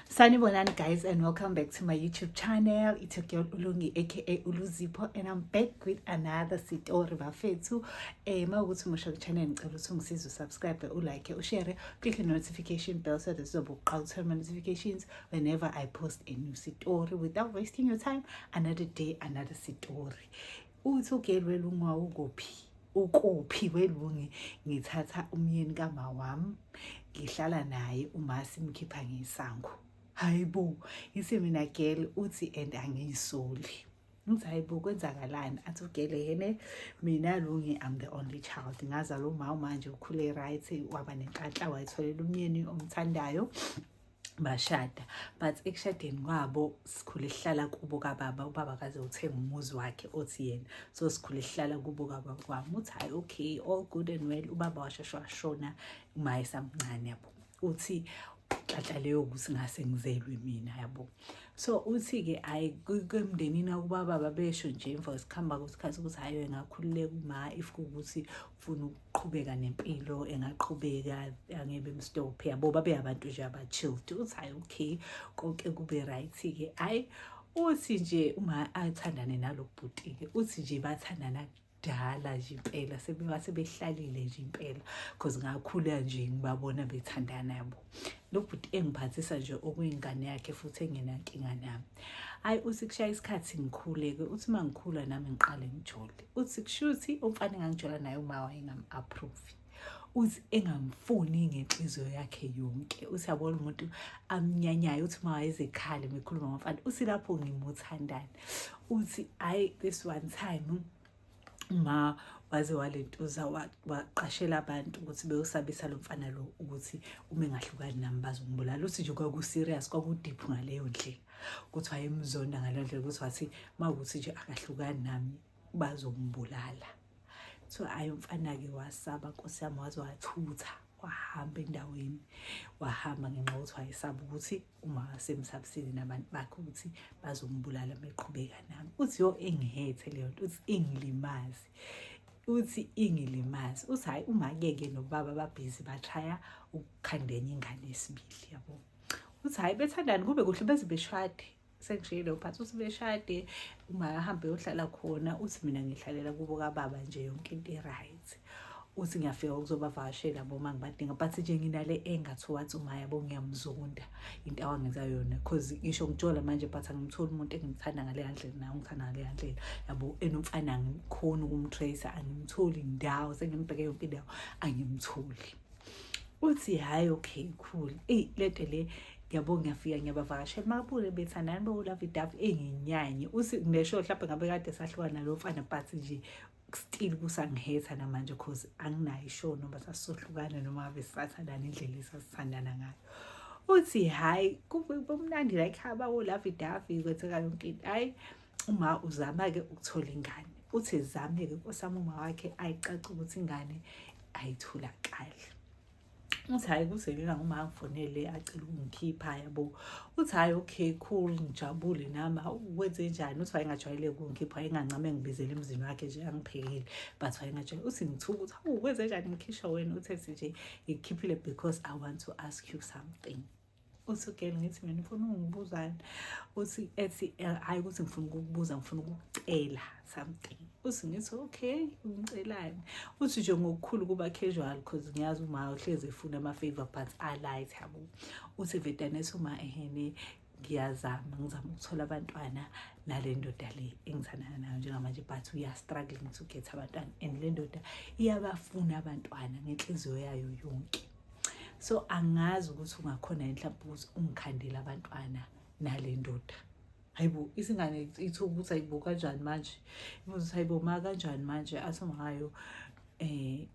Sanibonani guys and welcome back to my YouTube channel. It's your girl Ulungi aka Uluzipo and I'm back with another story bafethu. Eh mawukuthi umusha ku channel ngicela ukuthi ungisize usubscribe, ulike, ushare, click the notification bell so that uzobe uqhawutha my notifications whenever I post a new story. Without wasting your time, another day, another story. uthi ugeli welunga ukuphi ukuphi kwelungi ngithatha umyeni kama wami ngihlala naye uma simkhipha ngesango hayi bo ngise mina girl uthi and angiyisoli ngithi hayi bo kwenzakalani athi ugele yene mina lungi i'm the only child ngazala umama manje ukhule right waba nenhlanhla wayitholela umyeni omthandayo bashada but ekushadeni kwabo sikhule sihlala kubo kababa ubaba kaze uthenga umuzi wakhe othi yena so sikhule sihlala kubo kababa kwami uthi hayi okay all good and well ubaba washeshe washona uma esamncane yabo uthi xaxa leyo ukuthi ngase ngizelwe mina yabo so uthi-ke hhayi kwemndenini akuba baba besho nje emva kwesikhamba kwesikhathi ukuthi hhayi engakhululeka uma if kuwukuthi funa ukuqhubeka nempilo engaqhubeka angebe mstop yabo babe abantu nje abachilled uthi hayi okay konke kube right-ke hhayi uthi nje uma athandane nalo bhuti-ke uthi nje bathandana kudala nje impela sebebase behlalile nje impela because ngakhula nje ngibabona bethandana yabo lo bhuti engiphathisa nje okuyingane yakhe futhi engenankinga nami hayi uthi kushaya isikhathi ngikhuleke uthi uma ngikhula nami ngiqale ngijole uthi kushuthi umfana engangijola naye uma wayengam-approve uthi engamfuni ngenhliziyo yakhe yonke uthi yabona umuntu amnyanyayo uthi uma wayezekhale mekhuluma ngomfana uthi lapho ngimuthandani uthi hhayi this one time ma waze walentuza waqashela abantu ukuthi beyosabisa lo mfana lo ukuthi uma engahlukani nami bazombulala uthi nje kwaku-serious kwakudiphu ngaleyo ndlela ukuthi wayemzonda ngaleyo ndlela ukuthi wathi ma ukuthi nje akahlukani nami bazombulala so ayi umfana-ke wasaba nkosi yami waze wathutha wahamba endaweni wahamba ngenxa yokuthi wayesaba ukuthi uma semsabisile nabantu bakhe ukuthi bazombulala meqhubeka nami uthi yo engihethe leyo nto uthi ingilimazi uthi ingilimazi uthi hhayi umakeke nobaba babhizi bashaya ukukhandenya ingane esibili yabo uthi hhayi bethandani kube kuhle beze beshade sengishiyile uphathi uthi beshade uma ahambe yohlala khona uthi mina ngihlalela kubo kababa nje yonke into i-right uthi ngiyafika ukuzobavakashela bo uma ngibadinga but nje nginale enga towards umaya bo ngiyamzonda into awangenza yona because ngisho ngitshola manje but angimtholi umuntu engimthanda ngale yandlela naye ungithanda ngale yandlela yabo enomfana angikhoni ukumtrace angimtholi ndawo sengimbheke yonke indawo angimtholi uthi hhayi okay cool eyi lento le yabo ngiyafika ngiyabavakashela makabule bethandani bowulavidavi enginyanye uthi ngisho mhlawumbe ngabe kade sahlukana lo mfana but nje still kusangihetha namanje cause anginayo ishow noma sasohlukana noma ave sisathandana indlela esasithandana ngayo uthi hhayi kumnandi la ekhaba olavi davi kwenzeka yonke into hhayi uma uzama-ke ukuthola ingane uthi zame-ke kosami uma wakhe ayicaca ukuthi ingane ayitholakali uthi hhayi kuzelina uma angifonele acela ukungikhipha yabo uthi hhayi okay cool ngijabule nami wenze njani uthi wayengajwayele ukungikhipha wayengancame ngibizele emzini wakhe nje angiphekile but wayengajwayele uthi ngithuka uthi hawu kwenze njani ngikhishwa wena uthe nje ngikukhiphile because i want to ask you something uthi ugel ngithi mina ngifuna ungibuzani uthi ethi eh, hayi ukuthi ngifuna ukukubuza ngifuna ukucela something uthi ngithi okay ungicelani uthi nje ngokukhulu kuba casual because ngiyazi uma uhlezi efuna ama-favor but alight yabo uthi vedanesi uma ehene ngiyazama ngizama ukuthola abantwana nale ndoda le engithandana nayo njengamanje but uyastruggling to get abantwana and le ndoda iyabafuna abantwana ngenhliziyo yayo yonke so angazi ukuthi ungakhona yini mhlawumbe ukuthi ungikhandele abantwana nale ndoda hayibo isingane ithuka ukuthi ayibo kanjani manje ibuza ukuthi hayibo ma kanjani manje athi ngayo eh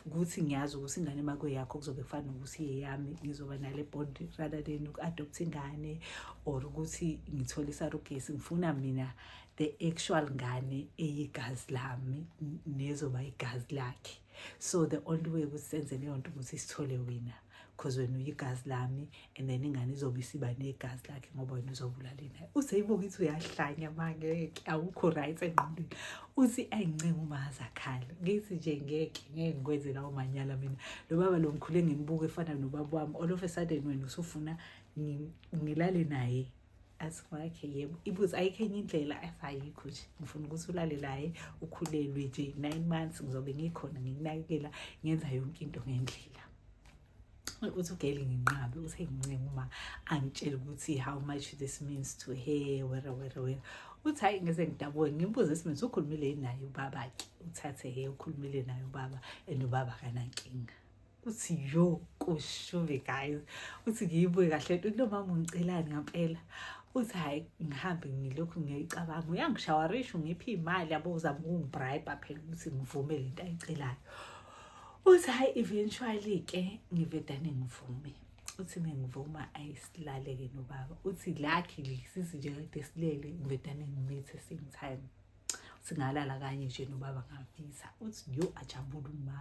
ukuthi ngiyazi ukuthi ingane makwe yakho kuzobe kufana ukuthi yeyami ngizoba nale bond rather than uku-adopt ingane or ukuthi ngithole isarugesi ngifuna mina the actual ngane eyigazi lami nezoba igazi lakhe so the only way ukuthi senze leyo nto ukuthi sithole wina because wena uyigazi lami and then ingane izobe isiba negazi lakhe ngoba wena uzobulala inaye uze ibuke ukuthi uyahlanya mangeke awukho right engqondweni uthi ayincenga umazi akhale ngithi nje ngeke ngeke ngikwenze lawo manyala mina lo baba lo ngikhule ngimbuka efana nobaba wami all of a sudden wena usufuna ngilale naye asikwakhe yebo ibuze ayikho enye indlela ayikho nje ngifuna ukuthi ulale laye ukhulelwe nje nine months ngizobe ngikhona ngikunakekela ngenza yonke into ngendlela uthi ugeli nginqabe uthe ngincenge uma angitshele ukuthi how much this means to her wera wera wera uthi hhayi ngeze ngidabuke ngimbuze isimethi ukhulumile naye ubaba-ke uthathe-ke ukhulumile naye ubaba and ubaba kanankinga uthi yo kushubi guys uthi ngiyibuye kahle uthi lo mama ungicelani ngampela uthi hhayi ngihambe ngilokhu ngiyicabanga uyangishawarisha ungiphi imali yabo uzama ukungibribe phela ukuthi ngivume le nto ayicelayo uthi hhayi eventually-ke ngivedane ngivume uthi mengivuma ayisilale-ke nobaba uthi lakhe lisizi nje kade silele ngivedane ngimithe same time singalala kanye nje nobaba ngavisa uthi yo ajabula uma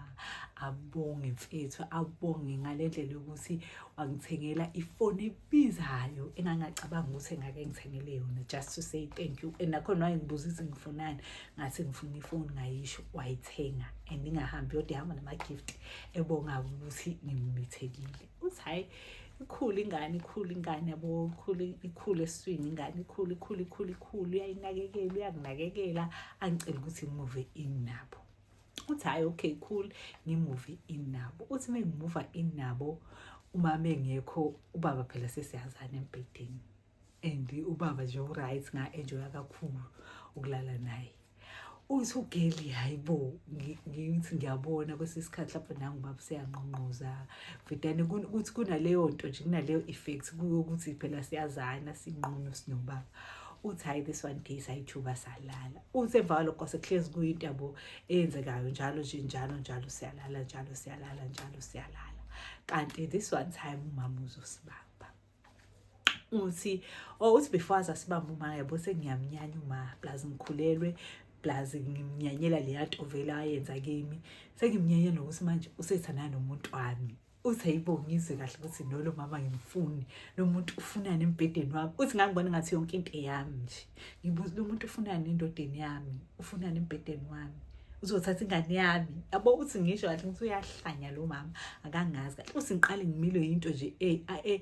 abonge mfethu abonge ngale ndlela yokuthi wangithengela ifoni ebizayo engangacabanga ukuthi engake ngithengele yona just to say thank you and nakhona wayengibuza ukuthi ngifunani ngathi ngifuna ifoni ngayisho wayithenga and ingahambi yodwa ihamba nama-gift ebonga ukuthi ngimumethekile ukuthi hhayi ikhulu ingane ikhulu ingane yabo ikhulu ikhulu eswini ingane ikhulu ikhulu ikhulu ikhulu uyayinakekela uyakunakekela angicela ukuthi ngimuve in nabo uthi hhayi okay cool ngimuve in nabo uthi uma ngimuva in nabo uma mengekho ubaba phela sesiyazana embhedeni and ubaba nje uright nga-enjoya kakhulu ukulala naye uthi ugeli hayi bo ngithi ngiyabona kwesinye isikhathi lapho nangu baba seyangqongqoza vedane kuthi kunaleyo nto nje kunaleyo effect kuyokuthi phela siyazana sinqunu sinobaba uthi hayi this one case ayithuba salala uthi emva kwalokho sekuhlezi kuyinto yabo eyenzekayo njalo nje njalo njalo siyalala njalo siyalala njalo siyalala kanti this one time umama uzosibamba uthi oh uthi before aza sibamba uma yabo sengiyamnyanya uma plus ngikhulelwe plus ngimnyanyela leya nto vele ayenza kimi sengimnyanya nokuthi manje usethana nomuntu wami uthi hayibo ngizwe kahle ukuthi nolo mama ngimfuni lo muntu ufunani embhedeni wami uthi ngangibona ngathi yonke into eyami nje ngibuza lo muntu ufunani endodeni yami ufunani embhedeni wami uzothatha ingane yami yabo uthi ngisho kahle ukuthi uyahlanya lo mama akangazi kahle uthi ngiqale ngimile yinto nje ey ey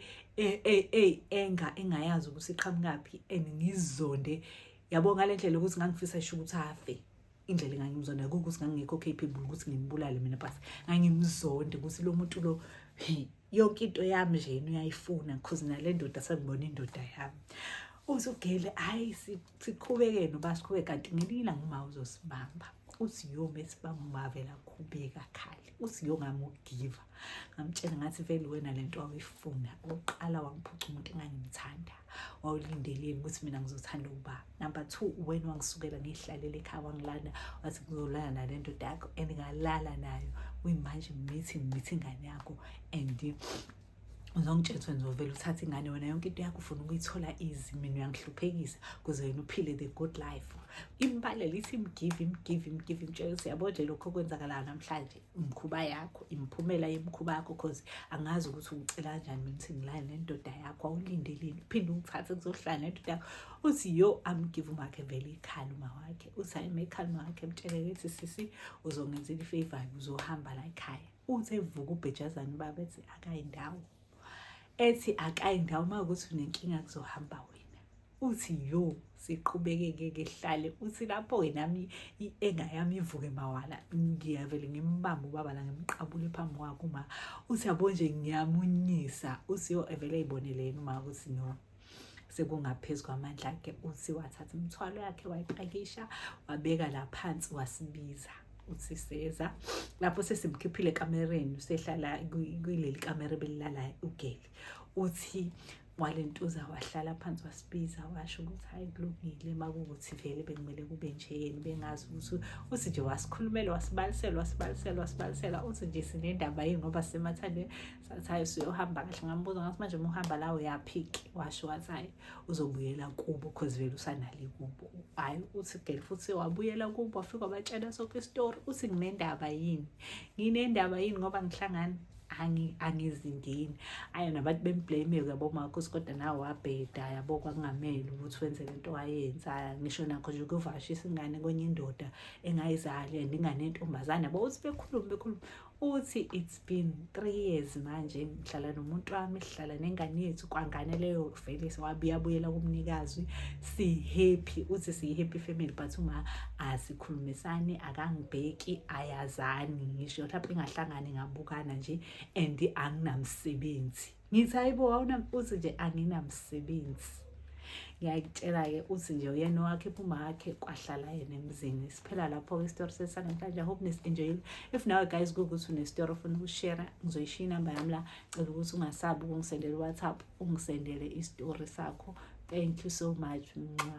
ey ey enga engayazi ukuthi iqhamukaphi and ngizonde yabo ngalendlela ukuthi ngangifisa isho ukuthi afe indlela engangimzonda kuko ukuthi ngangingekho capable ukuthi ngimbulale mina but ngangimzonde ukuthi lo muntu lo yonke into yami nje yena uyayifuna because nale ndoda sengibona indoda yami uthi ugele hayi siqhubeke noba siqhubeke kanti ngelinye ilanga uma uzosibamba uthi yoma esibamba umavela khubeka khali uthi yongamugiva ngamtshela ngathi vele wena le nto wawuyifuna oqala wangiphuca umuntu engangimthanda wawulindelile ukuthi mina ngizothanda ukuba number two wena wangisukela ngiyihlalele ekhaya wangilanda wathi ngizolala nale ndoda yakho and ngalala nayo kuyimanje mithi mithi ingane yakho and uzongitshela ukuthi ngizovela uthathe ingane wena yonke into yakho ufuna ukuyithola easy mina uyangihluphekisa kuze wena uphile the good life imbalelo ithi imgive imgive imgive imtshela ukuthi yabo nje lokho okwenzakalayo namhlanje imkhuba yakho imiphumela yemkhuba yakho cause angazi ukuthi ungicela kanjani mina ukuthi ngilale nendoda yakho awulindeleni uphinde ungithathe kuzohlala nendoda yakho uthi yo amgive umakhe vele ikhali uma wakhe uthi hayi uma ikhali uma wakhe mtshele ukuthi sisi uzongenzela ifavor uzohamba la ekhaya uthi evuka ubhejazane ubaba ethi akayi ndawo ethi akayi ndawo uma ukuthi unenkinga kuzohamba wena uthi yo siqhubekeke ke hlale uthi lapho ke nami i-enga yami ivuke mawala ngiyavele ngimbambe ubaba la ngimqabule phambi kwakho uma uthi yabo nje ngiyamunyisa uthi yo evele eyibonele yena uma ukuthi no sekungaphezu kwamandla akhe uthi wathatha imithwalo yakhe wayipakisha wabeka la phansi wasibiza uthi seza lapho sesimkhiphile ekamereni usehlala kuleli kamera belilala ugeli uthi walentuza wahlala phansi wasibiza washo ukuthi hayi kulungile makuwukuthi vele bekumele kube nje yeni bengazi ukuthi uthi nje wasikhulumela wasibalisela wasibalisela wasibalisela uthi nje sinendaba yini ngoba sisemathandweni sathi hayi usuyohamba kahle ngambuza ngathi manje uma uhamba la uyaphiki washo wathi hayi uzobuyela kubo cause vele usanale kubo hayi uthi girl futhi wabuyela kubo wafika wabatshela soke isitori uthi nginendaba yini nginendaba yini ngoba ngihlangana angizindini ayi nabantu bemblame-ke yabo makhosi kodwa nawe wabheda yabo kwakungamele ukuthi wenze le nto wayenza ngisho nakho nje ukuvashisa ingane kwenye indoda engayizali and ingane yentombazane yabo uthi bekhulume bekhulume uthi it's been three years manje ngihlala nomuntu wami sihlala nengane yethu kwangane leyo vele sewabuyabuyela kumnikazi si-happy uthi siyi-happy family but uma asikhulumisani akangibheki ayazani ngisho lapho ingahlangani ngabukana nje and anginamsebenzi ngithi hayibo wawuna uthi nje anginamsebenzi ngiyakutshela-ke uthi nje uyena owakhipha umakhe kwahlala yena emzini siphela lapho-ke isitori sesanamhlanje i hope nesi-enjoyile if nawe guys kuwukuthi unesitori ofuna ukushera ngizoyishiya inamba yami la cela ukuthi ungasabi ukungisendela uwhatsapp ungisendele isitori sakho thank you so much mnxa